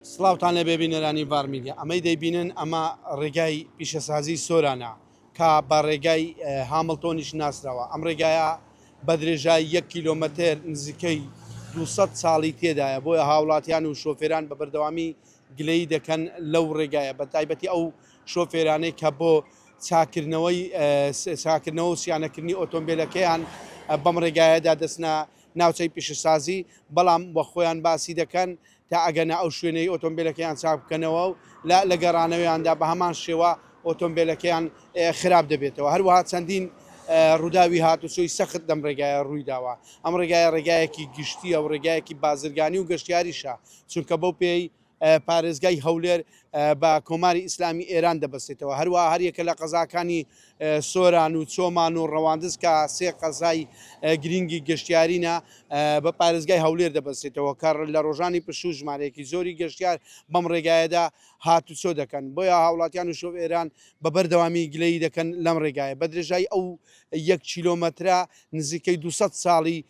سڵاوتان لێبێ بینەرانی ڤار میدیا ئەمەی دەیبینن ئەمە ڕێگای پیشەسازی سۆرانە کە بە ڕێگای هامڵتۆنیش ناسراوە ئەم ڕێگایە بە درێژای یەک کیلۆمەتر نزیکەی دوو سەد ساڵی تێدایە بۆیە هاوڵاتیان و شۆفێران بە بەردەوامی گلەیی دەکەن لەو ڕێگایە بە تایبەتی ئەو شۆفێرانەی کە بۆ چاکردنەوەی چاکردنەوە و سیانەکردنی ئۆتۆمبیلەکەیان بەم ڕێگایەدا دەستنە ناوچەی پیشەسازی بەڵام بە خۆیان باسی دەکەن تا ئەگەنە ئەو شوێنەی ئۆتۆمبێلەکەیان چاک بکەنەوە و لە لە گەڕانەوەیاندا بە هەمان شێوە ئۆتۆمبێلەکەیان خراپ دەبێتەوە. هەروەها چەندین ڕووداوی هاتوچۆی سەخت لەم ڕێگایە ڕووی داوە. ئەم ڕێگایە ڕێگایەکی گشتییە و ڕێگایەکی بازرگانی و گەشتیاریشە، چونکە بەو پێیەی پارێزگای هەولێر بە کۆماری ئیسلامی ئێران دەبەستێتەوە، هەروەها هەر یەکە لە قەزاکانی سۆران و چۆمان و ڕەواندز کە سێ قەزای گرینگی گەشتیارینە بە پارێزگای هەولێر دەبەستێتەوە کە لە ڕۆژانی پشوو ژمارەیەکی زۆری گەشتیار بەم ڕێگایەدا هاتوچۆ دەکەن بۆیە هاوڵاتیان و شۆف ئێران بە بەردەوامی گلەیی دەکەن لەم ڕێگایە بە درێژای ئەو یەک کیلۆمەترە نزیکەی دوو سەد ساڵی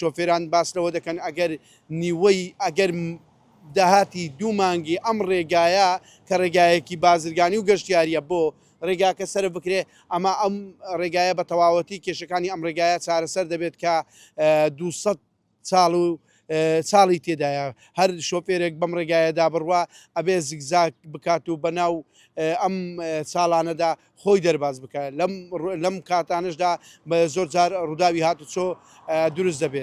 شۆفێران باس لەوە دەکەن، ئەگەر نیوەی ئەگەر داهاتی دوو مانگی ئەم رێگایە کە رێگایەکی بازرگانی و گەشتیارییە بۆ رێگاکە سەرف بکرێت، ئەما ئەم رێگایە بە تەواوەتی کێشەکانی ئەم رێگایە چارەسەر دەبێت کە دوو سەد ساڵ و ساڵی تێدایە هەر شۆفێرێک بەم رێگایەدا بڕوا ئەبێت زیگزاگ بکات و بەناو ئەم ساڵانەدا خۆی دەرباز بکات، لەم کاتانەشدا زۆر جار ڕووداوی هاتوچۆ دروست دەبێت.